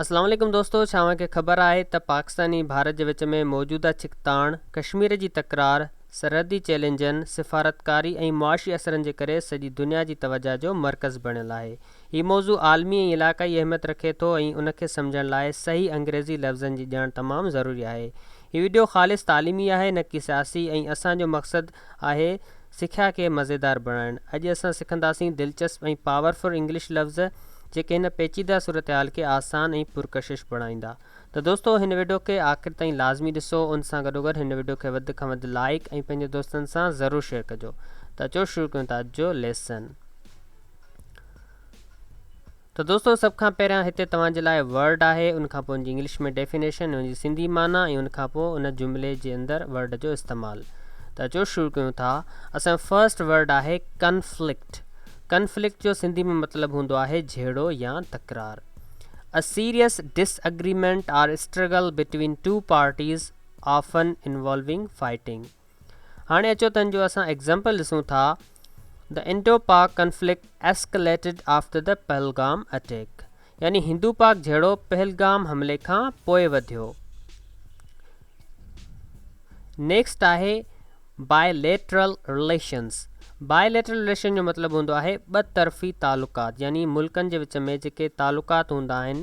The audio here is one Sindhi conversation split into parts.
السلام عليڪم دوستو ڇا اوهان کي خبر آهي ته پاڪستان ۽ ڀارت جي وچ ۾ موجوده ڇڪتاڻ، ڪشمير جي تڪرار، سرحدي چئلينجن، سفارتڪاري ۽ معاشي اثرن جي ڪري سڄي دنيا جي توجهه جو مرڪز بڻيل آهي. هي موضوع عالمي ۽ علاقائي اهميت رکي ٿو ۽ ان کي سمجهڻ لاء صحيح انگريزي لفظن جي ڄاڻ تمام ضروري آهي. هي وڊيو خالص تعليمي آهي نه ڪي سياسي ۽ اسان جو مقصد آهي سکيا کي مزيدار بڻائڻ اڄ اسان سکنداسين دلچسپ ۽ پاور فل انگلش لفظ جيڪي هن پيچيده صورتحال کي آسان ۽ پرڪشش بڻائيندا ته دوستو هن وڊيو کي آخر تائين لازمي ڏسو ان سان گڏوگڏ هن وڊيو کي وڌ کان وڌ لائيڪ ۽ پنهنجي دوستن سان ضرور شيئر ڪجو ته اچو شروع ڪيون ٿا اڄ جو ليسن. ته دوستو سڀ کان پهريان هتي توهان جي لاء ورڊ آهي ان کانپوء ان جي انگلش ۾ ڊيفينيشن ۽ ان جي سنڌي معنيٰ ۽ ان کانپوء ان جملي جي اندر ورڊ جو استعمال ته اچو شروع ڪيون ٿا اسان جو فرسٽ ورڊ آهي ڪنفلڪٽ ڪنفلڪٽ جو سنڌي ۾ مطلب هوندو آهي جهيڙو يا تڪرار A serious disagreement or struggle between two parties often involving fighting هاڻي اچو تنهن جو اسان ايگزامپل ڏسون ٿا، The Indo-Pak conflict escalated after the Pahalgam attack يعني هندو پاڪ جهيڙو پهلگام حملي کان پوء وڌيو. نيڪسٽ آهي Bilateral Relations Bilateral Relation جو مطلب هوندو آهي ٻه طرفي تعلقات يعني ملڪن جي وچ ۾ جيڪي تعلقات هوندا آهن،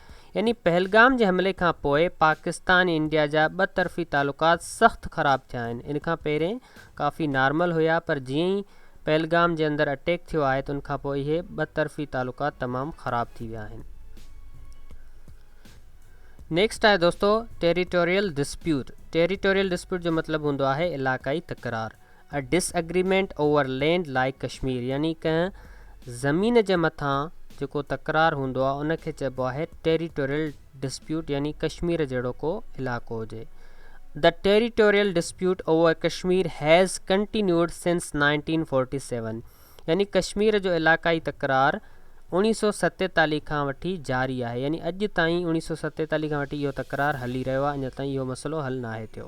يعني پهلگام جي حملي کان پوء پاڪستان ۽ انڊيا جا ٻه طرفي تعلقات سخت خراب ٿيا آهن ان کان پهرين ڪافي نارمل هيا پر جيئن ئي پهلگام جي اندر اٽيڪ ٿيو آهي ته ان کان پوء اهي ٻه طرفي تعلقات تمام خراب ٿي ويا آهن نيڪسٽ آهي دوستو ٽيريٽوريل ڊسپيوٽ ٽيريٽوريل ڊسپيوٽ جو مطلب هوندو آهي علاقائي تڪرار A disagreement over land like Kashmir يعني ڪنهن زمين جي مٿان جيڪو تڪرار هوندو آهي ان کي چئبو آهي Territorial dispute يعني ڪشمير جهڙو ڪو علائقو هجي The territorial dispute over Kashmir has continued since 1947 يعني ڪشمير جو علائقائي تڪرار اوڻيهه سؤ ستيتاليهه کان وٺي جاري آهي يعني اڄ تائين اوڻيهه سؤ ستيتاليهه کان وٺي اهو تڪرار هلي رهيو آهي اڃا تائين اهو مسئلو حل ناهي ٿيو.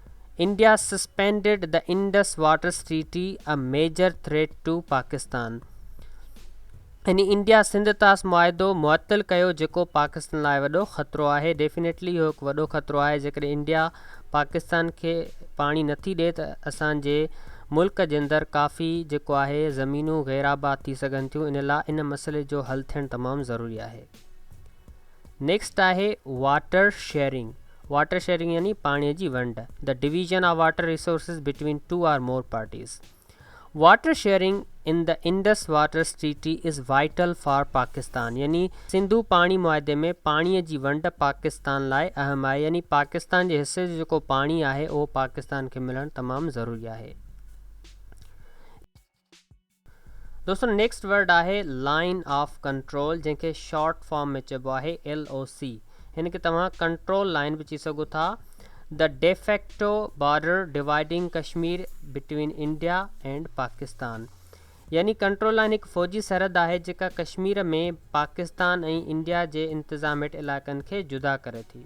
India suspended the Indus waters treaty a major threat to Pakistan يعني انڊيا سنڌ طاس معاهدو معطل ڪيو جيڪو پاڪستان لاء وڏو خطرو آهي ڊيفنيٽلي اهو هڪ وڏو خطرو آهي جيڪڏهن انڊيا پاڪستان کي پاڻي نٿي ڏي ته اسان جي ملڪ جي اندر ڪافي جيڪو آهي زمينون غير آباد ٿي سگهن ٿيون ان لاء ان مسئلي جو حل ٿيڻ تمام ضروري آهي نيڪسٽ آهي واٽر شيئرنگ واٽر شيئرنگ يعني پاڻي جي ونڊ the division of water resources between two or more parties water sharing in the Indus water treaty is vital for Pakistan يعني سنڌو پاڻي معاهدي ۾ پاڻي جي ونڊ پاڪستان لاء اهم آهي يعني پاڪستان جي حصي جو جيڪو پاڻي آهي اهو پاڪستان کي ملڻ تمام ضروري آهي دوستو نيڪسٽ ورڊ آهي لائين آف ڪنٽرول جنهن کي شارٽ فارم ۾ چئبو آهي LOC هن کي توهان ڪنٽرول لائين به چئي سگهو ٿا The de facto border dividing Kashmir between India and Pakistan يعني ڪنٽرول لائين هڪ فوجي سرحد آهي جيڪا ڪشمير ۾ پاڪستان ۽ انڊيا جي انتظام هيٺ علائقن کي جدا ڪري ٿي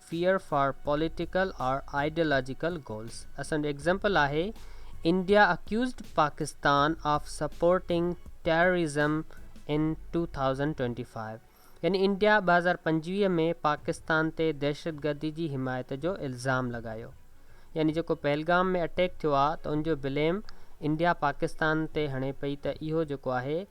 fear for political or ideological goals اسان جو ايگزيمپل آهي India accused Pakistan of supporting terrorism in two thousand twenty five يعني انڊيا ٻه هزار پنجويهه ۾ پاڪستان تي دهشتگردي جي حمايت جو الزام لڳايو يعني جيڪو پهلگام ۾ اٽيڪ ٿيو آهي ته ان جو بليم انڊيا پاڪستان تي هڻي پئي ته اهو جيڪو آهي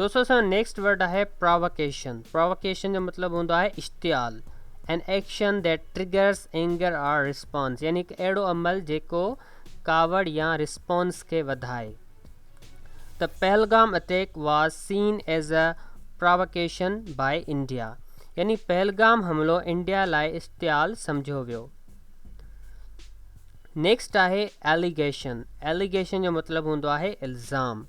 دوستو اسان جو نيڪسٽ ورڊ آهي پراوڪيشن پراوڪيشن جو مطلب هوندو آهي اشتعال an action that triggers anger or response يعني هڪ اهڙو عمل جيڪو ڪاوڙ يا رسپانس کي وڌائي ته Pahalgam attack was seen as a provocation by India يعني پهلگام حملو انڊيا لاء اشتعال سمجهيو ويو نيڪسٽ آهي ايليگيشن ايليگيشن جو مطلب هوندو آهي الزام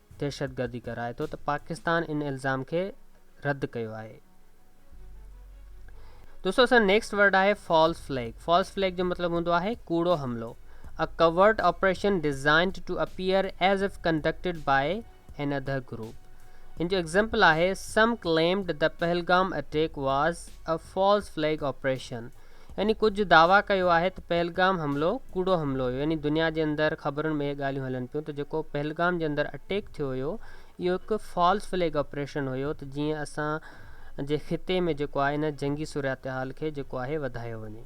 دهشتگردي ڪرائي ٿو ته پاڪستان ان الزام کي رد ڪيو آهي. دوستو اسان نيڪسٽ ورڊ آهي فالس فليگ فالس فليگ جو مطلب هوندو آهي ڪوڙو حملو a covert operation designed to appear as if conducted by another group ان جو ايگزامپل آهي سم ڪليمڊ ته Pahalgam attack was a false flag operation يعني ڪجهه دعويٰ ڪيو آهي ته پهلگام حملو ڪوڙو حملو هيو يعني دنيا جي اندر خبرن ۾ اهي ڳالهيون هلن پيون ته جيڪو پهلگام جي اندر اٽيڪ ٿيو هيو اهو هڪ فالس فليگ آپريشن هيو ته جيئن اسان جي خطي ۾ جيڪو آهي ان جنگي صورتحال کي جيڪو آهي وڌايو وڃي.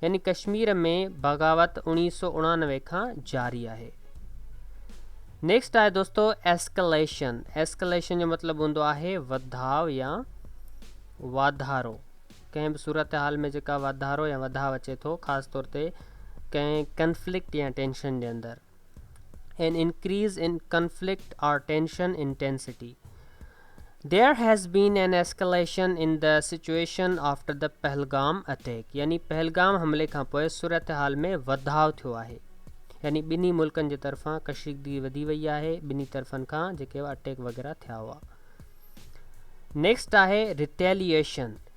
يعني ڪشمير ۾ بغاوت اوڻيهه سؤ اڻانوي کان جاري آهي. نيڪسٽ آهي دوستو ايسڪليشن ايسڪليشن جو مطلب هوندو آهي وڌاء يا واڌارو ڪنهن به صورتحال ۾ جيڪا واڌارو يا وڌاء اچي ٿو خاص طور تي ڪنهن ڪنفلڪٽ يا ٽينشن جي اندر an increase in conflict or tension intensity there has been an escalation in the situation after the Pahalgam attack يعني پهلگام حملي کانپوء صورتحال ۾ وڌاء ٿيو آهي يعني ٻنهي ملڪن جي طرفان ڪشيدگي وڌي وئي آهي ٻنهي طرفن کان جيڪي اٽيڪ وغيره ٿيا هئا نيڪسٽ آهي ريٽيليشن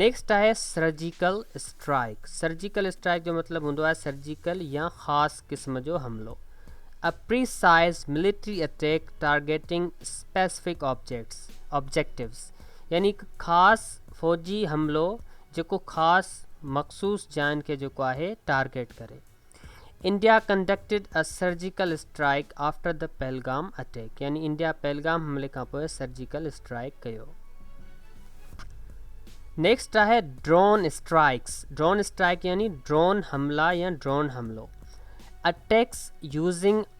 نيڪسٽ آهي سرجيڪل اسٽرائيڪ سرجيڪل اسٽرائيڪ جو مطلب هوندو آهي سرجيڪل يا خاص قسم جو حملو A precise military attack targeting specific objects objectives يعني هڪ خاص فوجي حملو جيڪو خاص مخصوص جاين کي جيڪو آهي ٽارگيٽ ڪري India conducted a surgical strike after the Pahalgam attack يعني انڊيا پهلگام حملي کانپوء سرجيڪل اسٽرائيڪ ڪيو. نيڪسٽ آهي ڊرون اسٽرائيڪس ڊرون اسٽرائيڪ يعني ڊرون حملا يا ڊرون حملو اٽيڪس يوزنگ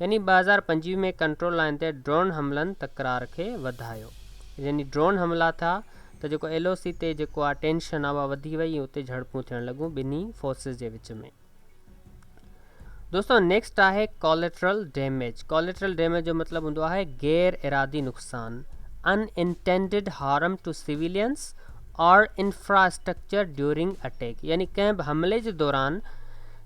يعني ٻه هزار پنجويهه ۾ ڪنٽرول لائين تي ڊرون حملن تڪرار کي وڌايو يعني ڊرون حملا ٿيا ته جيڪو ايل او سي تي جيڪو آ ٽينشن آ اها وڌي وئي ۽ اتي جهڙپون ٿيڻ لڳون ٻنهي فورسز جي وچ ۾ دوستو نيڪسٽ آهي ڪاليٽرل ڊيميج ڪاليٽرل ڊيميج جو مطلب هوندو آهي غير ارادي نقصان unintended harm to civilians or infrastructure during attack يعني ڪنهن به حملي جي دوران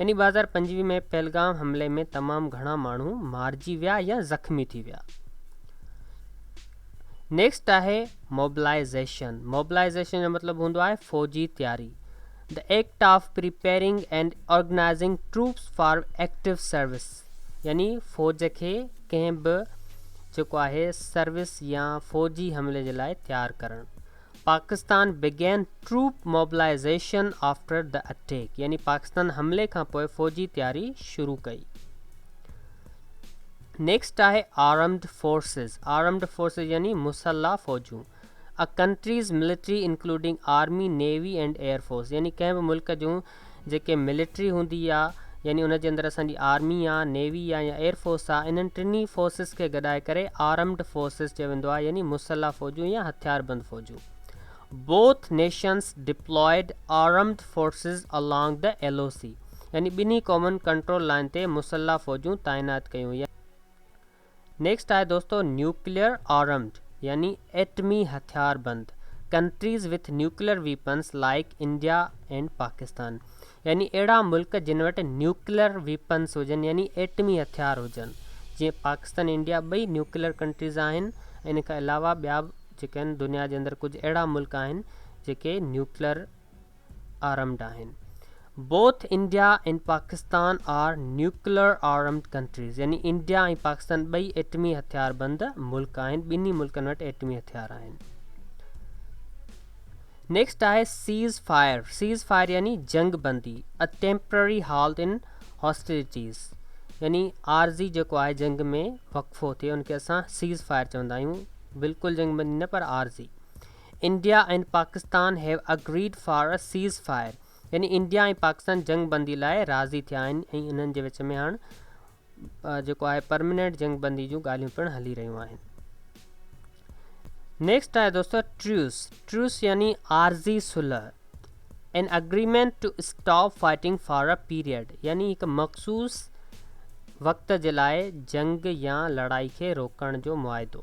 ان ئي ٻهزار پنجويهه ۾ پهلگام حملي ۾ تمام گهڻا ماڻهو مارجي ويا يا زخمي ٿي ويا. نيڪسٽ آهي موبلائيزيشن موبلائيزيشن جو مطلب هوندو آهي فوجي تياري The act of preparing and organizing troops for active service يعني فوج کي ڪنهن به جيڪو آهي سروس يا فوجي حملي جي لاء تيار ڪرڻ Pakistan begin troop mobilisation after the attack يعني پاڪستان حملي کانپوء فوجي تياري شروع ڪئي. نيڪسٽ آهي آرمڊ فورسز آرمڊ فورسز يعني مسلح فوجون a countries military including army navy and air force يعني ڪنهن به ملڪ جون جيڪي ملٽري هوندي آ يعني ان جي اندر اسان جي آرمي آ نيوي آ يا ايئر فورس آ انهن ٽنهي فورسز کي گڏائي ڪري آرمڊ فورسز چيو ويندو آ يعني مسلح فوجون يا هٿيار بند فوجون Both nations deployed armed forces along the LOC يعني ٻنهي قومن ڪنٽرول لائن تي مسلح فوجون تعينات ڪيون يا نيڪسٽ آهي دوستو نيوڪليئر آرمڊ يعني ايٽمي هٿيار بند countries with nuclear weapons like India and Pakistan يعني اهڙا ملڪ جن وٽ نيوڪليئر ويپنس هجن يعني ايٽمي هٿيار هجن جيئن پاڪستان ۽ انڊيا ٻئي نيوڪليئر ڪنٽريز آهن ۽ ان کان علاوه ٻيا به جيڪي آهن دنيا جي اندر ڪجهه اهڙا ملڪ آهن جيڪي نيوڪليئر آرمڊ آهن. Both India and Pakistan are nuclear armed countries يعني انڊيا ۽ پاڪستان ٻئي ايٽمي هٿياربند ملڪ آهن، ٻنهي ملڪن وٽ ايٽمي هٿيار آهن. نيڪسٽ آهي سيز فائر سيز فائر يعني جنگ بندي a temporary halt in hostilities يعني عارضي جيڪو آهي جنگ ۾ وقفو ٿئي ان کي اسان سيز فائر چوندا آهيون بلڪل جنگ بندي نه پر عارضي India ۽ Pakistan have agreed for a ceasefire يعني انڊيا ۽ پاڪستان جنگ بندي لاء راضي ٿيا آهن ۽ انهن جي وچ ۾ هاڻ جيڪو آهي پرمننٽ جنگ بندي جون ڳالهيون پڻ هلي رهيون آهن نيڪسٽ آهي دوستو ٽريوس ٽريوس يعني عارضي صلح an agreement to stop fighting for a period يعني هڪ مخصوص وقت جي لاء جنگ يا لڙائي کي روڪڻ جو معاهدو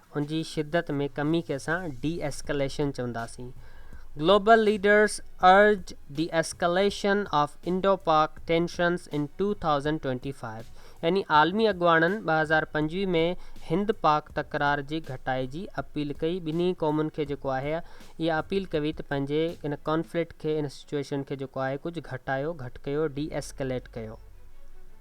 ان جي شدت ۾ ڪمي کي اسان ڊي ايسڪليشن چونداسين. Global leaders urge D escalation of Indo Pak tensions in two thousand twenty five يعني عالمي اڳواڻن ٻه هزار پنجويهه ۾ هند پاڪ تڪرار جي گهٽائي جي اپيل ڪئي ٻنهي قومن کي جيڪو آهي اها اپيل ڪوي ته پنهنجي ان ڪانفلڪٽ کي ان سچوئيشن کي جيڪو آهي ڪجهه گهٽايو گهٽ ڪيو ڊي ايسڪليٽ ڪيو.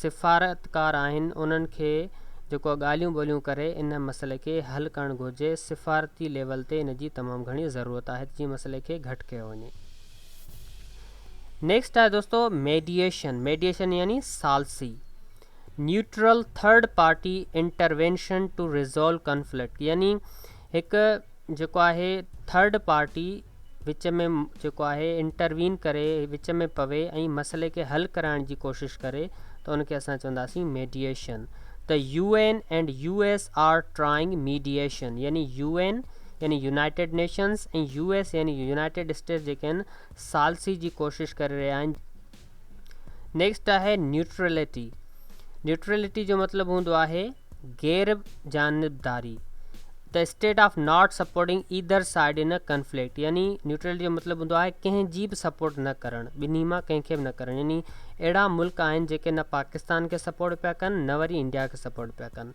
سفارتڪار آهن انهن کي جيڪو ڳالهيون ٻولهيون ڪري ان مسئلي کي حل ڪرڻ گهرجي سفارتي ليول تي ان جي تمام گهڻي ضرورت آهي ته جيئن مسئلي کي گهٽ ڪيو وڃي نيڪسٽ آهي دوستو ميڊيشن ميڊيشن يعني سالسي neutral third party intervention to resolve conflict يعني هڪ جيڪو آهي ٿرڊ پارٽي وچ ۾ جيڪو آهي انٽروين ڪري وچ ۾ پوي ۽ مسئلي کي حل ڪرائڻ جي ڪوشش ڪري ته ان کي اسان چونداسين ميڊيئيشن ته U N and U S are trying mediation يعني يو اين يعني يونائيٽيڊ نيشنز ۽ يو ايس يعني يونائيٽيڊ اسٽيٽس جيڪي آهن ثالثي جي ڪوشش ڪري رهيا آهن نيڪسٽ آهي نيوٽرلٽي نيوٽرلٽي جو مطلب هوندو آهي غير جانبداري ته state of not supporting either side in conflict يعني نيوٽرلٽي جو مطلب هوندو آهي ڪنهن جي به سپورٽ نه ڪرڻ ٻنهي مان ڪنهن کي به نه ڪرڻ يعني اهڙا ملڪ آهن جيڪي نه پاڪستان کي سپورٽ پيا ڪن نه وري انڊيا کي سپورٽ پيا ڪن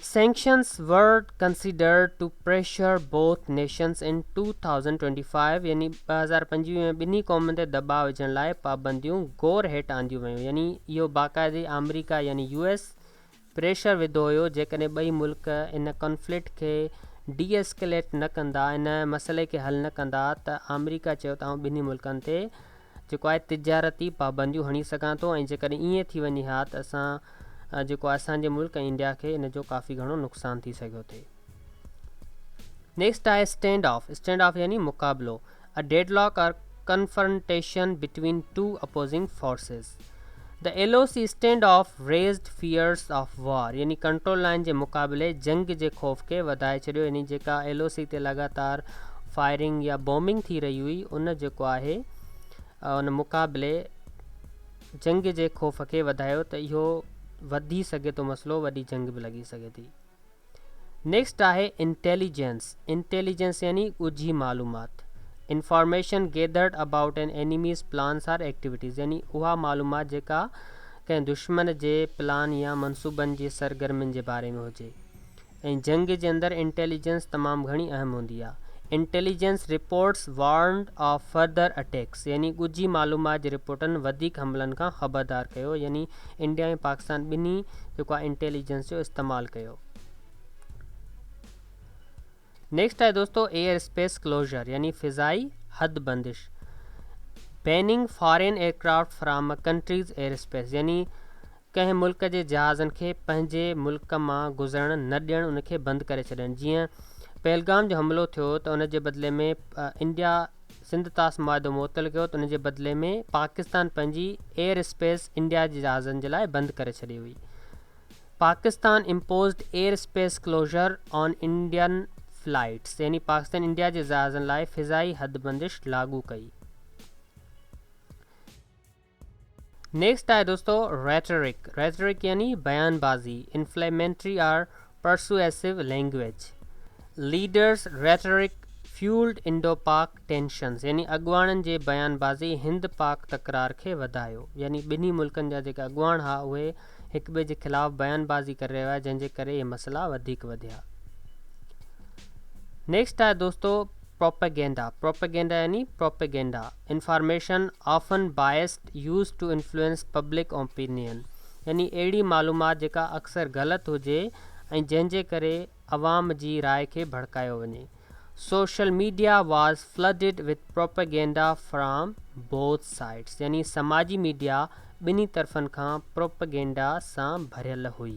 Sanctions were considered to pressure both nations in two thousand twenty five يعني ٻه هزار پنجويهه ۾ ٻنهي قومن تي دٻاء وجهڻ لاء پابنديون غور هيٺ آنديون ويون يعني اهو باقاعدي آمريڪا يعني يو ايس پريشر وڌو هيو جيڪڏهن ٻئي ملڪ ان ڪانفلڪٽ کي ڊي ايسڪليٽ نه ڪندا ان مسئلي کي حل نه ڪندا ته آمريڪا چيو ته آئون ٻنهي ملڪن تي جيڪو آء تجارتي پابنديون هڻي سگهان ٿو ۽ جيڪڏهن ائين ٿي وڃي ها ته اسان جيڪو آء اسان جي ملڪ ۽ انڊيا کي ان جو ڪافي گهڻو نقصان ٿي سگهيو ٿي. نيڪسٽ آهي اسٽينڊ آف، اسٽينڊ آف يعني مقابلو، A deadlock or confrontation between two opposing forces. The LOC standoff raised fears of war يعني ڪنٽرول لائين جي مقابلي جنگ جي خوف کي وڌائي ڇڏيو يعني جيڪا ايل او سي تي لڳاتار فائرنگ يا بومنگ ٿي رهي هئي ان جيڪو آهي ان مقابلي جنگ جي خوف کي وڌايو ته اهو وڌي سگهي ٿو مسئلو وڏي جنگ به لڳي سگهي ٿي نيڪسٽ آهي انٽيليجنس، Intelligence، يعني ڳجهي معلومات، Information gathered about an enemy's plans or activities، يعني اها معلومات جيڪا ڪنهن دشمن جي پلان يا منصوبن جي سرگرمين جي باري ۾ هجي ۽ جنگ جي اندر انٽيليجنس تمام گهڻي اهم هوندي آهي. Intelligence reports warned of further attacks، يعني ڳجهي معلومات جي رپورٽن وڌيڪ حملن کان خبردار ڪيو يعني انڊيا ۽ پاڪستان ٻنهي جيڪو آهي انٽيليجنس جو استعمال ڪيو نيڪسٽ آهي دوستو ايئر اسپيس ڪلوزر يعني فضائي حد بندش banning foreign aircraft from countries air space يعني ڪنهن ملڪ جي جهازن کي پنهنجي ملڪ مان گذرڻ نه ڏيڻ ان کي بند ڪري ڇڏڻ جيئن پهلگام جو حملو ٿيو ته ان جي بدلي ۾ انڊيا سنڌ طاس معاهدو معطل ڪيو ته ان جي بدلي ۾ پاڪستان پنهنجي ايئر اسپيس انڊيا جي جهازن جي لاء بند ڪري ڇڏي هئي. Pakistan imposed air space closure on Indian flights يعني پاڪستان انڊيا جي جهازن لاء فضائي حد بندش لاڳو ڪئي. نيڪسٽ آهي دوستو ريٽرڪ ريٽرڪ يعني بيان بازي inflammatory or persuasive language leaders rhetoric fuelled Indo Pak tensions يعني اڳواڻن جي بيان بازي هند پاڪ تڪرار کي وڌايو يعني ٻنهي ملڪن جا جيڪي اڳواڻ ها اهي هڪ ٻئي جي خلاف بيان بازي ڪري رهيا هئا جنهن جي ڪري اهي مسئلا وڌيڪ وڌيا نيڪسٽ آهي دوستو پروپيگينڊا پروپيگينڊا يعني propaganda information often biased used to influence public opinion يعني اهڙي معلومات جيڪا اڪثر غلط هجي ۽ جنهن جي ڪري عوام جي راء کي ڀڙڪايو وڃي social media was flooded with propaganda from both sides يعني سماجي ميڊيا ٻنهي طرفن کان پروپيگينڊا سان ڀريل هئي.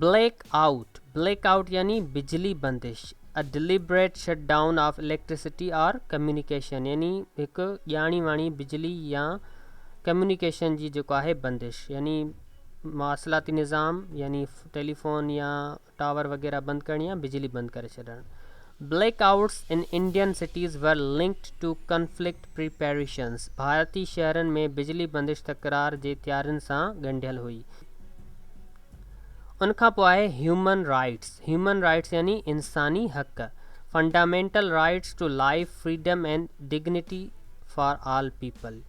بليڪ آئوٽ، Black out، يعني بجلي بندش، A deliberate shutdown of electricity or communication، يعني هڪ ڄاڻي واڻي بجلي يا ڪميونيڪيشن جي جيڪو آهي بندش يعني مواصلاتي نظام يعني ٽيليفون يا ٽاور وغيره بند ڪرڻي يا بجلي بند ڪري ڇڏڻ. Blackouts in Indian cities were linked to conflict preparations, ڀارتي شهرن ۾ بجلي بندش تڪرار جي تيارين سان ڳنڍيل هئي. ان کان پوء آهي هيومن رائيٽس، Human Rights يعني انساني حق، fundamental rights to life, freedom and dignity for all people.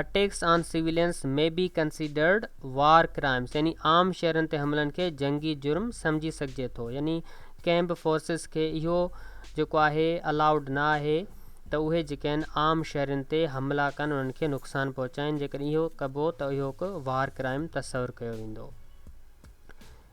Attacks on civilians may be considered war crimes يعني عام شهرين تي حملن کي جنگي جرم سمجهي سگهجي ٿو يعني ڪنهن به فورسز کي اهو جيڪو آهي الاؤڊ نه آهي ته اهي جيڪي آهن عام شهرين تي حملا ڪن انهن کي نقصان پهچائين جيڪڏهن اهو ڪبو ته اهو هڪ وار ڪرائم تصور ڪيو ويندو.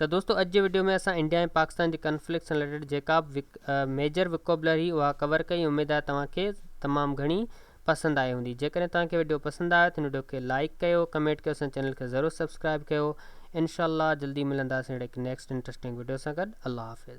ته دوستو اڄ جي وڊيو ۾ اسان انڊيا ۽ پاڪستان جي ڪنفلڪٽ سان رليٽيڊ جيڪا به ميجر وڪوبلري اها ڪور ڪئي اميد آهي توهان کي تمام گهڻي پسند آئي هوندي جيڪڏهن توهان کي وڊيو پسند آيو ته هن وڊيو کي لائڪ ڪيو ڪمينٽ ڪيو اسان جي چينل کي ضرور سبسڪرائب ڪيو انشاء الله جلدي ملنداسين اهڙي هڪ نيڪسٽ انٽرسٽنگ وڊيو سان گڏ الله حافظ.